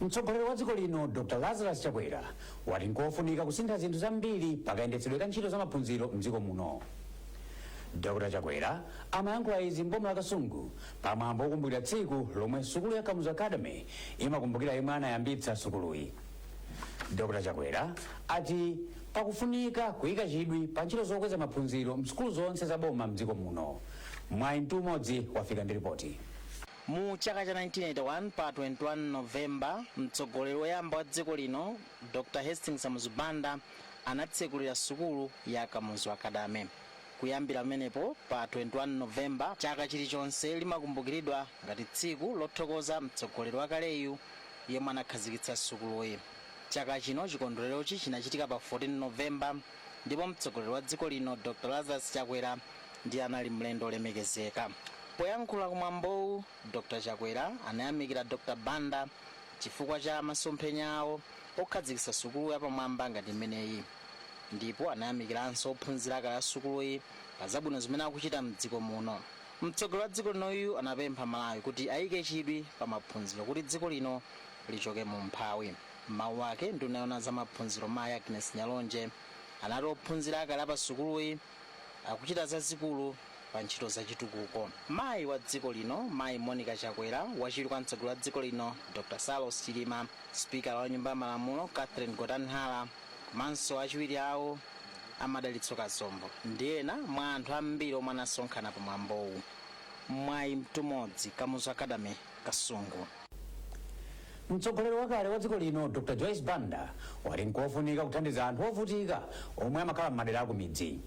mtsogoleri wa dziko lino dr lazarus chakwera wati nkofunika kusintha zinthu zambiri pakayendetsedwe ka ntchito za maphunziro mdziko muno dr chakwera amayankhula izi mboma la kasungu pa mwambo wokumbukira tsiku lomwe sukulu ya kamuzu academy imakumbukira yemwe anayambitsa sukuluyi dr chakwera ati pakufunika kuyika chidwi pa ntchito zokweza maphunziro msukulu zonse za boma mdziko muno mwayi mtumodzi wafika ndi ripoti mu chaka cha 1981 pa 21 novemba mtsogoleri woyamba wa dziko lino dr hastings kamuzu banda anatsekulira sukulu ya kamuzu academy kuyambira pamenepo pa 21 novemba chaka chilichonse limakumbukiridwa ngati tsiku lothokoza mtsogoleri wakaleyu yemwe anakhazikitsa sukuluyi. Chaka chino chikondwererochi chinachitika pa 14 November ndipo mtsogoleri wa dziko lino Dr Lazarus Chakwera ndiye anali mlendo olemekezeka. Poyankhula ku mwambowu Dr Chakwera anayamikira Dr Banda chifukwa cha masomphenya awo okhazikitsa sukulu yapamwamba ngati imeneyi ndipo anayamikiranso ophunzira akale a sukuluyi pa zabwino zimene akuchita mdziko muno. Mtsogoleri wa dziko linoyu anapempha Amalawi kuti ayike chidwi pa maphunziro kuti dziko lino lichoke mu umphawi. M'mawu ake, nduna yoona za maphunziro mayi Agness Nyalonje anati ophunzira akale a pa sukuluyi akuchita zazikulu pa ntchito za chitukuko. Mayi wa dziko lino mayi Monica Chakwera, wachiwiri kwa mtsogoleri wa dziko lino Dr Saulos Chilima, sipikala wa nyumba ya malamulo Catherine Gotani-Hara, komanso achiwiri awo a madalitso kazombo ndi ena mwa anthu ambiri omwe anasonkhana pa mwambowu mwayi mtumodzi kamuzu academy kasungu mtsogoleri wakale wa dziko lino dr joyce banda wati nkofunika kuthandiza anthu ovutika omwe amakhala m'madera akumidzi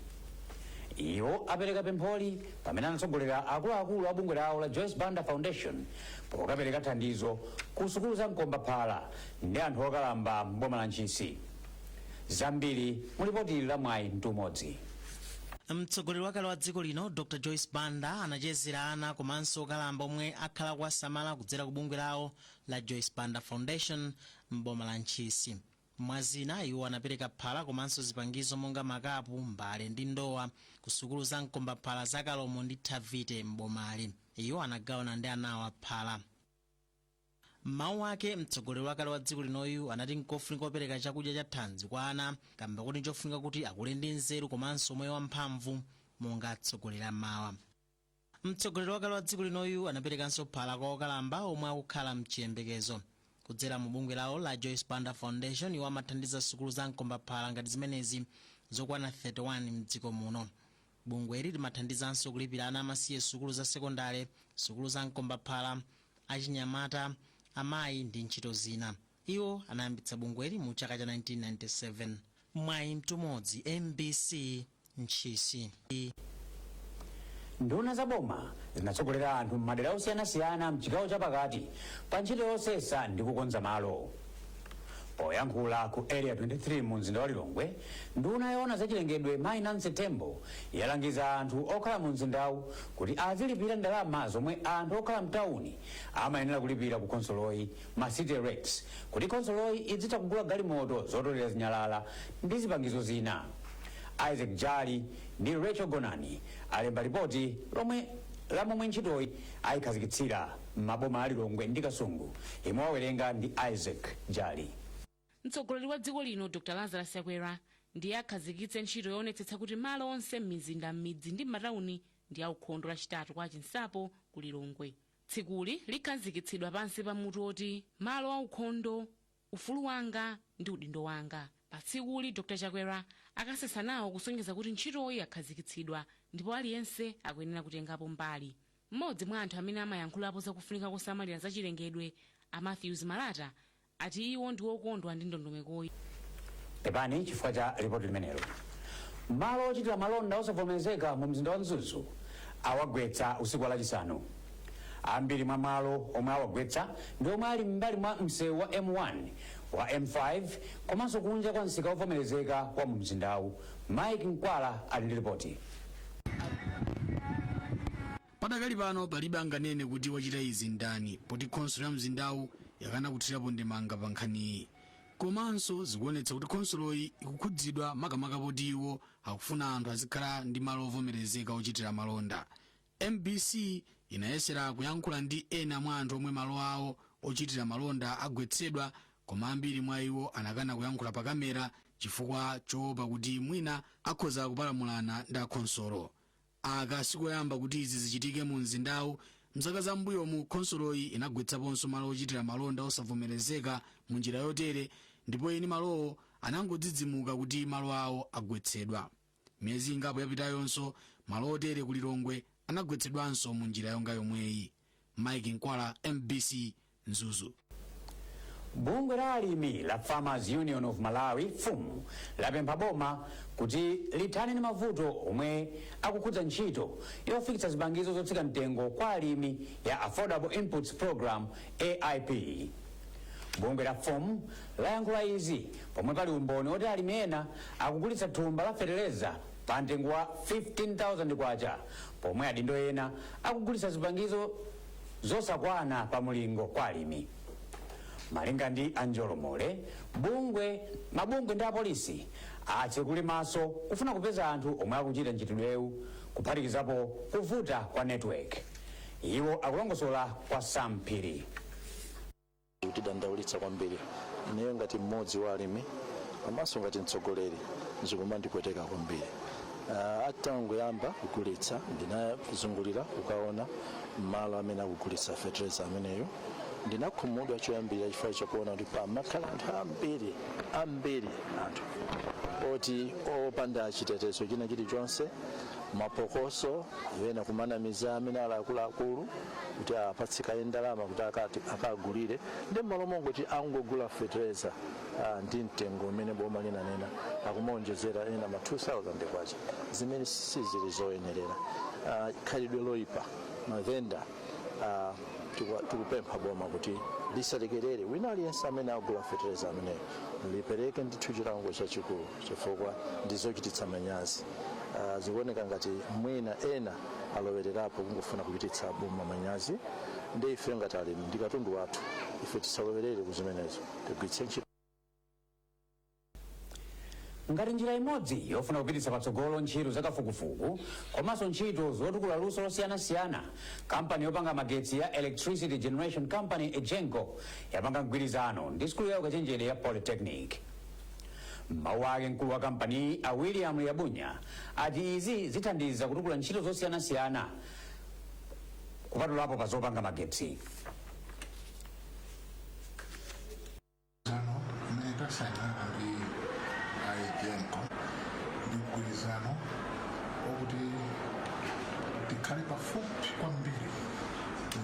iwo apereka pempholi pamene anatsogolera akuluakulu a bungwe lawo la joyce banda foundation pokapereka thandizo ku sukulu za mkombaphala ndi anthu okalamba m'boma la Ntchisi. Zambiri mu lipoti ili la Mwayi Mtumodzi. Mtsogoleri wakale wa dziko lino Dr Joyce Banda anachezera ana komanso okalamba omwe akhala kuwasamala kudzera ku bungwe lawo la Joyce Banda Foundation m'boma la Ntchisi. Mwazina iwo anapereka phala komanso zipangizo monga makapu, mbale ndi ndowa ku sukulu za mkombaphala za Kalomo ndi Thavite m'bomali. Iwo anagawana ndi anawa phala. M'mawu ake, mtsogoleri wakale wa dziko linoyu anati nkofunika kupereka chakudya cha thanzi kwa ana kamba koti nchofunika kuti akule ndi nzeru komanso umoyo wa mphamvu monga atsogoleri a mawa. Mtsogoleri wakale wa dziko linoyu anaperekanso phala kwa okalamba omwe akukhala mchiyembekezo. Kudzera mu bungwe lawo la Joyce Banda Foundation, iwo amathandiza sukulu za mkombaphala ngati zimenezi zokwana 31 mdziko muno. Bungweli limathandizanso kulipirira ana amasiye sukulu za sekondale, sukulu za mkombaphala, achinyamata, amayi ndi ntchito zina. Iwo anayambitsa bungweli mu chaka cha 1997. Mwayi Mtumodzi, mbc, Ntchisi. Nduna za boma zinatsogolera anthu m'madera osiyanasiyana m'chigawo chapakati pa ntchito yosesa ndi kukonza malo. Poyankhula ku Area 23 mu mzinda wa Lilongwe, nduna yoona za chilengedwe Mayi Nancy Tembo yalangiza anthu okhala mu mzindawu kuti azilipira ndalama zomwe anthu okhala mtawuni amayenera kulipira ku khonsoloyi ma city rates kuti khonsoloyi izitha kugula galimoto zotolera zinyalala ndi zipangizo zina. Isaac Jali ndi Rachel Gonani alemba lipoti lomwe la momwe ntchitoyi ayikhazikitsira. m'maboma a Lilongwe ndi Kasungu yemwe akuwerenga ndi Isaac Jali. Mtsogoleri wa dziko lino Dr Lazarus Chakwera ndiye akhazikitse ntchito yoonetsetsa kuti malo onse m'mizinda, m'midzi ndi m'matauni ndi aukhondo Lachitatu kwa Chinsapo ku Lilongwe. Tsikuli likhazikitsidwa pansi pa mutu woti Malo aukhondo Ufulu wanga ndi udindo wanga. Pa tsikuli, Dr Chakwera akasesa nawo kusonyeza kuti ntchitoyi yakhazikitsidwa ndipo aliyense akuyenera kutengapo mbali. M'modzi mwa anthu amene amayankhulapo za kufunika kosamalira za chilengedwe, a Mathews Malata, ati iwo ndi wokondwa ndi ndondomekoyi. Pepani chifukwa cha lipoti limenelo. Malo ochitira malonda osavomerezeka mu mzinda wa Mzuzu awagwetsa usiku wa lachisanu. Ambiri mwa malo omwe awagwetsa ndi omwe ali m'mbali mwa msewu wa M1, wa M5 komanso kunja kwa msika wovomerezeka wa mu mzindawu. Mike Mkwala ali ndi lipoti. Padakali pano palibe anganene kuti wachita izi ndani poti khonsolo ya mzindawu yakana kuthirapo ndemanga pa nkhaniyi. Komanso zikuonetsa kuti khonsoloyi ikukhudzidwa makamaka poti iwo akufuna anthu azikhala ndi malo ovomerezeka ochitira malonda. Mbc inayesera kuyankhula ndi ena mwa anthu omwe malo awo ochitira malonda agwetsedwa koma ambiri mwa iwo anakana kuyankhula pa kamera chifukwa choopa kuti mwina akhoza kupalamulana ndi akhonsolo. Aka sikoyamba kuti izi zichitike mu mzindawu, mzaka za m'mbuyomu khonsoloyi inagwetsaponso malo ochitira malonda osavomerezeka mu njira yotere ndipo eni malowo anangodzidzimuka kuti malo awo agwetsedwa. Miyezi ingapo yapitayonso malo otere ku Lilongwe anagwetsedwanso mu njira yonga yomweyi. Mike Nkwala, MBC, Mzuzu. Bungwe la alimi la Farmers Union of Malawi FUM lapempha boma kuti lithane ndi mavuto omwe akukhudza ntchito yofikitsa zipangizo zotsika mtengo kwa alimi ya Affordable Inputs Program AIP. Bungwe la FUM layankhula izi pomwe pali umboni oti alimi ena akugulitsa thumba la feteleza pa mtengo wa K15,000 pomwe adindo ena akugulitsa zipangizo zosakwana pa mulingo kwa alimi. Malinga ndi Anjolo Mole, bungwe mabungwe ndi apolisi atsekule maso kufuna kupeza anthu omwe akuchita mchitidwewu kuphatikizapo kuvuta kwa network. Iwo akulongosola kwa Sam Phiri. kutidandaulitsa kwambiri ineyo ngati mmodzi wa alimi komanso ngati mtsogoleri zikumandipweteka kwambiri uh, atangoyamba kugulitsa ndinazungulira kukaona malo amene akugulitsa fetereza ameneyo ndinakhumudwa choyambira chifukwa chakuona kuti pamakhala anthu ambiri ambiri anthu oti opanda chitetezo china chilichonse maphokoso ena kumanamiza amene ali akuluakulu kuti apatsidwe kaye ndalama kuti akagulire ndiye mmalo mongoti angogula fetereza ah, ndi mtengo umene boma linanena akumaonjezera ena ma 2000 kwacha zimene sizili zoyenerera Ah, khalidwe loipa mavenda ah, tiku- tikupempha boma kuti lisalekerere wina aliyense amene agula fetereza ameneyo lipereke ndithu chilango chachikulu chifukwa ndizochititsa manyazi Ah, zikuoneka ngati mwina ena alowererapo kungofuna kuchititsa boma manyazi ndiye ife ngati alimi ndi katundu wathu ife tisalowerere ku zimenezo tigwiritse ntchito ngati njira imodzi yofuna kupititsa patsogolo ntchito zakafukufuku komanso ntchito zotukula luso losiyanasiyana kampani yopanga magetsi ya electricity generation company egenco yapanga mgwirizano ndi sukulu ya ukachenjede ya polytechnic M'mawu ake mkulu wa kampaniyi a William Liabunya ati izi zithandiza kutukula ntchito zosiyanasiyana kupatulapo pa zopanga magetsi. Sano imene tasainana ndi EGENCO ndi mgwirizano wakuti tikhale pafupi kwambiri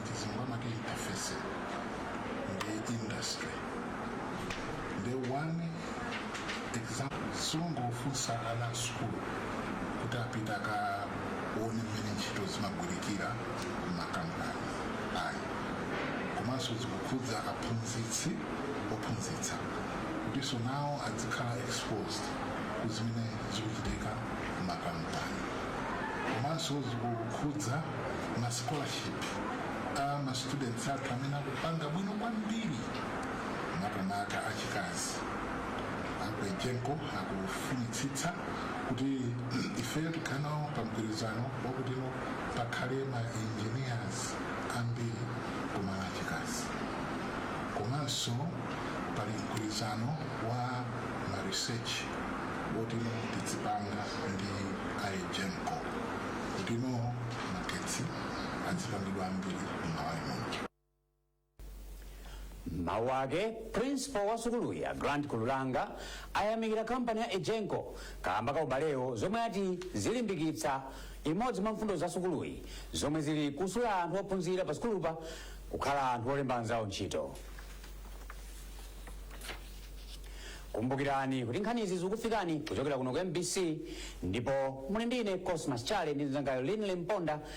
ndi zinthu amati interface ndi industry nde one example sungofunsa ana a sukulu kuti apite akaone mmene ntchito zimagwirikira m'makampani ayi komanso zikukhudza aphunzitsi ophunzitsa kutinso nawo adzikhala exposed ku zimene zikuchitika m'makampani komanso zikukhudza ma scholarship a ma students athu amene akupanga bwino kwambiri makamaka achikazi a ku egenco akufunitsitsa kuti ifeyo tikhale nawo pa mgwirizano wakutino pakhale ma engineers ambiri koma achikazi komanso pali mgwirizano wa ma research wotino tidzipanga ndi a egenco kutino magetsi adzilangidwa ambiri m'malawi muno mawu ake principal wa sukuluyi a grant kululanga ayamikira kampani ya egenco kaamba ka ubalewo zomwe ati zilimbikitsa imodzi mwa mfundo za sukuluyi zomwe zili kusula anthu ophunzira pa sukulupa kukhala anthu olemba anzawo ntchito kumbukirani kuti nkhanizi zikufikani kuchokera kuno ku mbc ndipo muli ndi ine cosmas chale ndi mzangayu linley mponda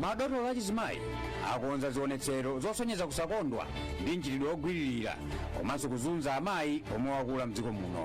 madotolo achizimayi akonza zionetsero zosonyeza kusakondwa ndi mchitidwe wogwiririra komanso kuzunza amayi omwe wakula mdziko muno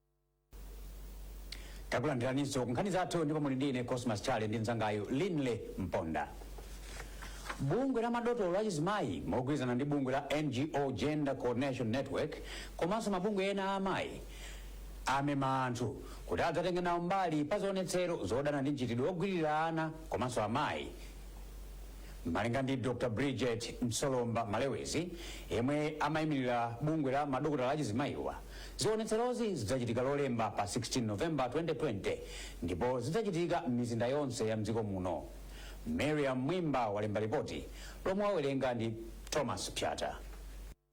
takulandiraniso ku nkhani zathu ndipo muli ndi ine cosmas chale ndi mzangayu linley mponda bungwe la madotolo achizimayi mogwirizana ndi bungwe la ngo gender coordination network komanso mabungwe ena a amayi amema anthu kuti adzatenge nawo mbali pa zionetsero zodana ndi mchitidwe wogwiririra ana komanso amayi malinga ndi dr bridget msolomba malewezi yemwe amayimirira bungwe la madokotala achizimayiwa Zionetserozi zidzachitika Lolemba pa 16 November 2020 ndipo zidzachitika m'mizinda yonse ya m'dziko muno. Mariam Mwimba walemba lipoti lomwe wawerenga ndi Thomas Pyata.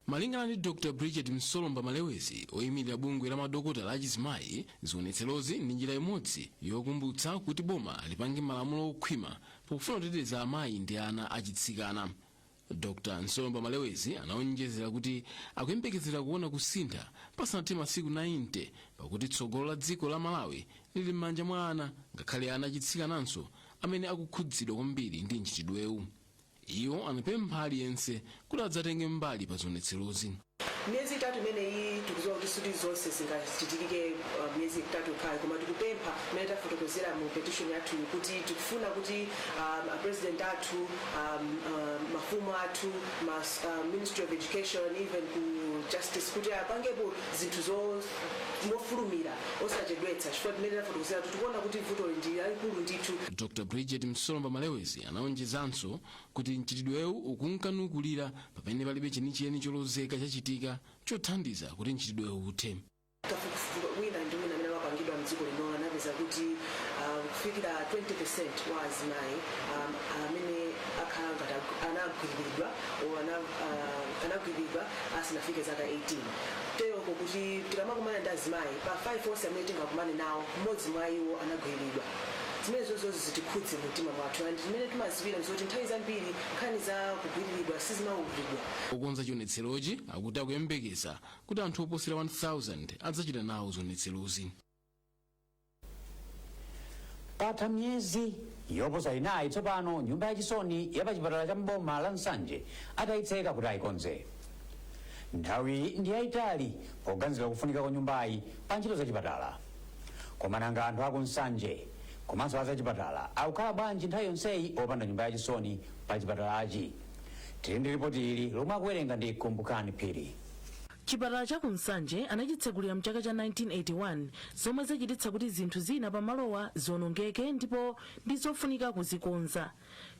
Malingana ndi Dr Bridget Msolomba Malewezi, oyimirira bungwe la madokotala achizimayi, zionetserozi ndi njira imodzi yokumbutsa kuti boma lipange malamulo okhwima pofuna kuteteza amayi ndi ana achitsikana. dr msolomba malewezi anaonjezera kuti akuyembekezera kuona kusintha pasanathe masiku 90 pakuti tsogolo la dziko la malawi lili m'manja mwa ana ngakhale ana achitsikananso amene akukhudzidwa kwambiri ndi mchitidwewu iwo anapempha aliyense kuti adzatenge mbali pa zionetserozi miyezi itatu imeneyi tikudziwa kuti sikuti zonse zingachitikike uh, miyezi itatu yokhayo koma tikupempha mmene tafotokozera mu petition yathu kuti tikufuna kuti um, a president athu um, um, mafumu athu ma uh, ministry of education even ku justice kuti apangepo zinthuzo mofulumira osachedwetsa chifukwa mmene tafotokozera kuti tikuona kuti vutoli ndi lalikulu ndithu dr bridget msolomba malewezi anaonjezanso kuti mchitidwewu ukunka nukulira pamene palibe chenicheni cholozeka chachitika chothandiza kuti mchitidwewu uthe kafukufuku wina ndi wina amene wapangidwa mdziko lino anapeza kuti ah, kufikira 20 wa azimayi um, amene akhala ngati agu- anagwiriridwa or ana- ah, anagwiriridwa asanafike zaka 18 teronso kuti tikamakumana ndi azimayi pa 5 onse amene tingakumane nawo mmodzi mwa iwo anagwiriridwa Zimene zoterozi zitikhudze mu mtima mwathu and zimene timaziwira nzoti nthawi zambiri nkhani za kugwiriridwa sizimamvedwa. Okonza chionetserochi akuti akuyembekeza kuti anthu oposera 1000 adzachita nawo zionetserozi. Patha miyezi yoposa inayi tsopano nyumba yachisoni ya pachipatala cha mboma la nsanje atayitseka kuti ayikonze nthawi ndi yayitali poganizira kufunika kwa nyumbayi pa ntchito za chipatala koma nanga anthu aku nsanje komanso azachipatala akukhala bwanji nthawi yonseyi opanda nyumba yachisoni pa chipatalachi tili ndi ripoti ili lomwe akuwerenga ndi kumbukani phiri chipatala cha kunsanje anachitsegulira mchaka cha 1981 zomwe zachititsa kuti zinthu zina pamalowa zionongeke ndipo ndi zofunika kuzikonza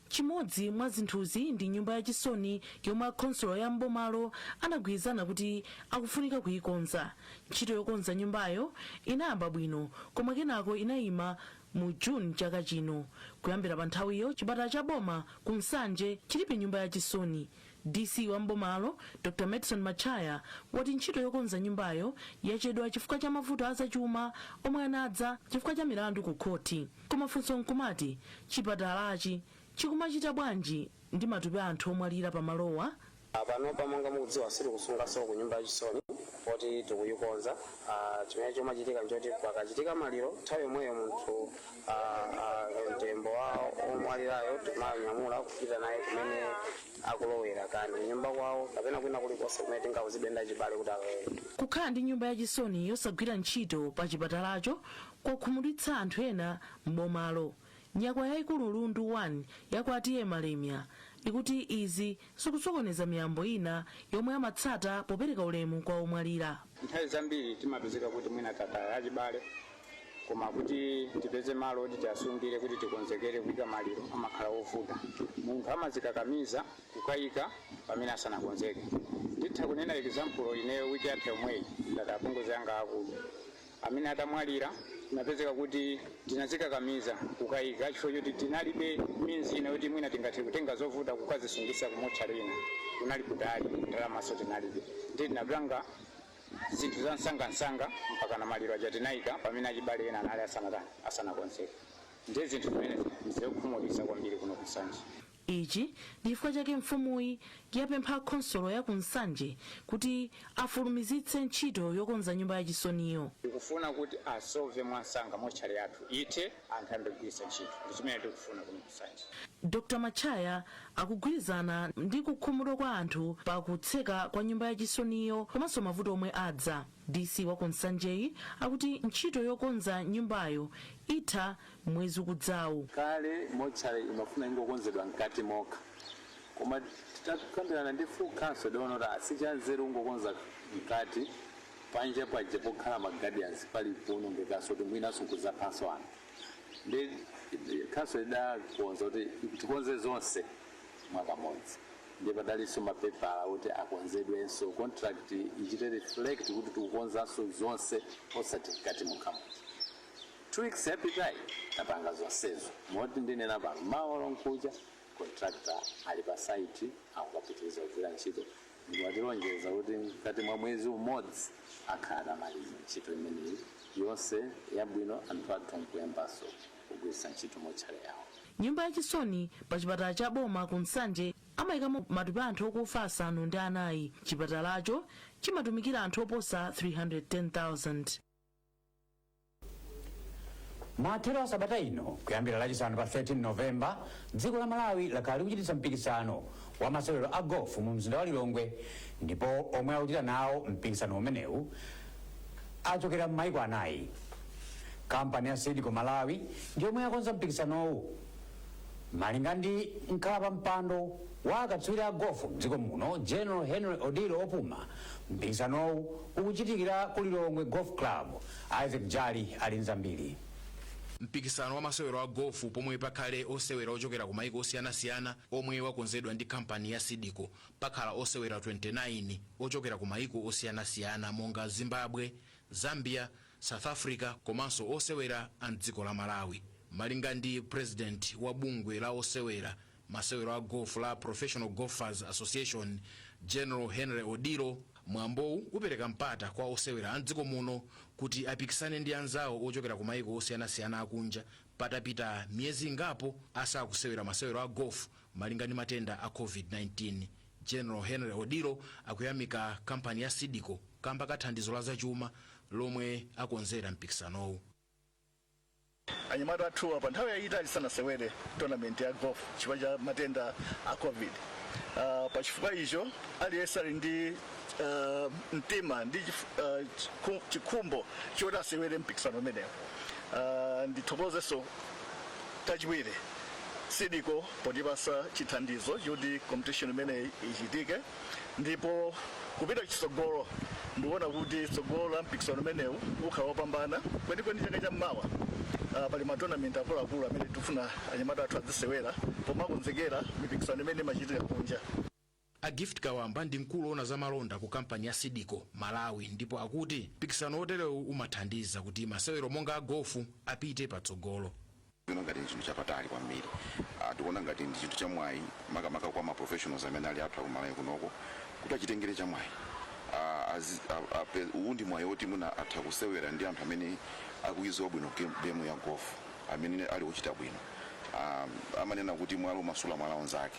chimodzi mwa zinthuzi ndi nyumba ya chisoni yomwe akhonsolo ya mbomalo anagwirizana kuti akufunika kuyikonza ntchito yokonza nyumbayo inayamba bwino koma kenako inayima mu june chaka chino kuyambira pa nthawiyo chipatala cha boma ku nsanje chilibe nyumba ya chisoni dc wa mbomalo dr medson matchaya wati ntchito yokonza nyumbayo yachedwa chifukwa cha mavuto azachuma omwe anadza chifukwa cha milandu ku khoti Koma funso nkumati, chipatalachi chikumachita bwanji ndi matupi a anthu omwalira pa malowa? a Panopa monga mukudziwa sitikusunganso ku nyumba yachisoni poti tikuyikonza. a Chimene chomachitika nchoti pakachitika maliro nthawi yomweyo munthu a, a, mtembo wa omwalirayo timanyamula kupita naye kumene akulowera kaya kunyumba kwawo kapena kwina kulikonse kumene tingauzidwe ndi achibale kuti akalowere. Kukhala ndi nyumba yachisoni yosagwira ntchito pa chipatalacho kwakhumudwitsa anthu ena m'bomalo. Nyakwawa yaikulu Lundu 1 ya kwa T.A. Malemia ikuti izi zikusokoneza miyambo ina yomwe amatsata popereka ulemu kwa omwalira. Nthawi zambiri timapezeka kuti mwina tataya achibale koma kuti tipeze malo oti tiasungire kuti tikonzekere kuika maliro amakhala ovuta. Munthu amazikakamiza kukaika pamene asanakonzeke. Nditha kunena example ineyo week yatha yomweyi ndataya apongozi anga aakulu amene atamwalira tinapezeka kuti tinazikakamiza kukayika chifukwa choti tinalibe means ina yoti mwina tingathe kutenga zovuta kukazisungisa ku motchale ina kunali kutali ndalamaso tinalibe ndiye tinapanga zinthu za msangamsanga mpaka na maliro aja tinayika pamene achibale ena anali asanata asanakonzeka ndiye zinthu zimene zikukhumudwitsa kwambiri kuno ku Nsanje Ichi ndi chifukwa chake mfumuyi yapempha khonsolo ya ku Nsanje kuti afulumizitse ntchito yokonza nyumba ya chisoniyo. Tikufuna kuti asove mwansanga motchale yathu ithe anthu ayambe kugwiritsa ntchito ndi chimene tikufuna kuno ku Nsanje. Dr Matchaya akugwirizana ndi kukhumudwa kwa anthu pa kutseka kwa nyumba ya chisoniyo komanso mavuto omwe adza. DC wa ku Nsanjeyi akuti ntchito yokonza nyumbayo itha mwezi ukudzawu. Kale motchale imafuna ingokonzedwa mkati mokha koma titakambirana ndi full council tidaona kuti ah, si chanzeru kungokonza mkati panja paja pokhala ma guardians pali kuonongekanso kuti mwinanso nkuzaphanso anthu ndiye council idakonza kuti tikonze zonse mwakamodzi ndiye padalinso mapepala oti akonzedwenso contract ichite reflect kuti tikukonzanso zonse osati mkati mokha muja two weeks yapitayi tapanga zonsezo moti ndinena pano mawa lomkuja contractor ali pa site akukapitiriza kugwira ntchito ndi watilonjeza kuti mkati mwa mwezi umodzi akhala atamaliza ntchito imeneyi yonse yabwino anthu athu nkuyambanso kugwiritsa ntchito motchale yawo Nyumba ya chisoni pa chipatala cha boma ku Nsanje amayikamo matupi a anthu okufa asanu ndi anayi. Chipatalacho chimatumikira anthu oposa 310,000. mathero a sabata ino kuyambira lachisanu pa 13 novemba dziko la malawi lakhala likuchititsa mpikisano wa masewero a gofu mu mzinda wa lilongwe ndipo omwe akuchita nawo mpikisano umenewu achokera m'maiko anayi. Kampani ya Seedco Malawi ndi yomwe yakonza mpikisanowu. Malinga ndi mkhalapampando wa akatswiri a gofu mdziko muno General Henry Odillo opuma, mpikisanowu ukuchitikira ku Lilongwe Golf Club. Isaac Jali ali ndi zambiri. Mpikisano wa masewero a gofu pomwe pakhale osewera ochokera ku maiko osiyanasiyana omwe wakonzedwa ndi kampani ya Seedco Pakhala osewera 29 ochokera ku mayiko osiyanasiyana monga Zimbabwe, Zambia, South Africa komanso osewera a m'dziko la Malawi. Malinga ndi pulezidenti wa bungwe la osewera masewero a Gofu la Professional Golfers Association, General Henry Odillo, mwambowu upereka mpata kwa osewera a m'dziko muno kuti apikisane ndi anzawo ochokera ku mayiko osiyanasiyana akunja patapita miyezi ingapo asakusewera masewero a Gofu Malinga ndi matenda a Covid-19, General Henry Odillo akuyamika kampani ya Seed Co kamba ka thandizo la zachuma lomwe akonzera mpikisanowu. Anyamata athuwa pa nthawi yayitali sanasewere tournament ya golf chifukwa cha matenda a Covid. Uh, pa chifukwa icho aliyense ali ndi uh, mtima ndi chif- uh, chiku- chikhumbo choti asewere mpikisano umenewu. Uh, ndithokozenso Chachiwiri, Seed Co potipasa chithandizo choti competition imeneyi ichitike ndipo kupita chitsogolo ndikuona kuti tsogolo la mpikisano umenewu ukhala wopambana kwenikweni chaka cha mmawa uh, pali ma tournament akuluakulu amene tikufuna anyamata athu azisewera pomakonzekera mipikisano imene imachitika kunja A Gift Kawamba ndi mkulu owona za malonda ku kampani ya Seed Co Malawi ndipo akuti mpikisano oterewu umathandiza kuti masewero monga a gofu apite patsogolo. Tikuona ngati ndi chinthu chapamwamba kwambiri. Ah, tikuona ngati ndi chinthu chamwayi makamaka kwa ma professionals amene ali athu akumalawi kunoko kuti achitengere chamwayi. Ah, azi- a- ape- uwu ndi mwayi woti mwina atha kusewera ndi anthu amene akuidziwa bwino game, game ya golf amene ali ochita bwino. Ah, amanena kuti mwala umasuula mwala unzake.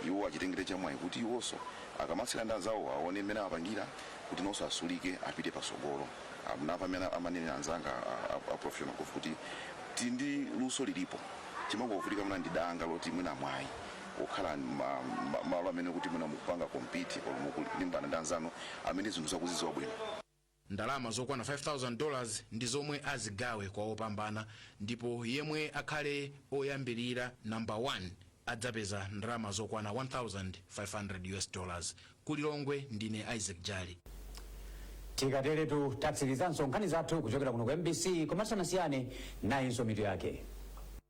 iwo achitengere chamwayi kuti iwonso akamasewera ndi anzawowo awone mmene amapangira kuti nawonso asulike apite patsogolo. Munamva mmene amanenera anzanga a professional golf kuti tili ndi luso lilipo timangovutika mwina ndi danga loti mwina mwayi wokhala mmalo amene kuti mwina mukupanga compete or mukulimbana ndi anzanu amene zinthu awo akuzidziwa bwino. Ndalama zokwana 5,000 dollars ndi zomwe azigawe kwa opambana ndipo yemwe akhale oyambilira, number 1, adzapeza ndalama zokwana 1,500 US dollars. Ku Lilongwe ndine Isaac Jali. Tikaterotu tatsirizanso nkhani zathu kuchokera kuno ku mbc koma tisanasiyane nayinso mitu yake.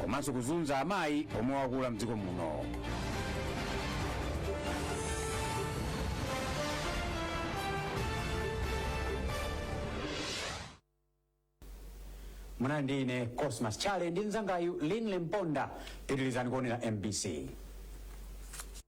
komanso kuzunza amayi omwe wakula mdziko muno munali ndi ine cosmas Tchale ndi mzangayu linle mponda pitirizani kuonera mbc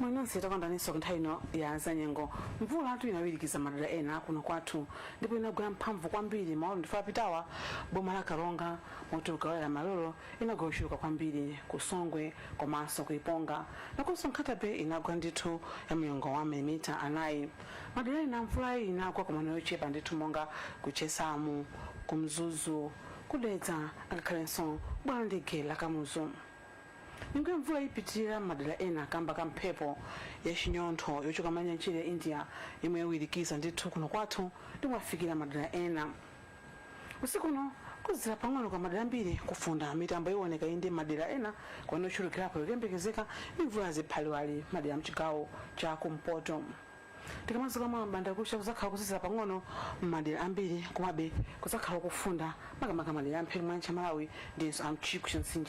mwaona takumananso nthawi ino ya zanyengo mvulatu inawirikiza madera ena kuno kwathu ndipo inagwa yamphamvu kwambiri maola apitawa boma la karonga moti m'mawa wa lero inagwa yochuluka kwambiri ku songwe komanso ku iponga nakonso ku Nkhata Bay inagwa ndithu ya mlingo wa milimita anayi madera ena mvulayi inagwa koma yochepa ndithu monga ku chesamu ku mzuzu Ku Dedza ngakhalenso bwalo la ndege la Kamuzu. Nyengo ya mvula ipitirira m'madera ena kamba ka mphepo ya chinyontho yochoka m'nyanja ya India yomwe yawirikiza ndithu kuno kwathu ndipo yafikira madera ena. Usiku uno kuzizira pang'ono m'madera ambiri kufunda mitambo iwoneka inde madera ena kumene ochulukirapo ikuyembekezeka ndi mvula ya ziphaliwali madera a mchigawo cha kumpoto. Tikamadzuka mawa m'bandakucha kudzakhala kuzizira pang'ono m'madera ambiri komabe kudzakhala kofunda makamaka madera a mphepete mwa nyanja ya Malawi ndinso a mchigwa cha mtsinje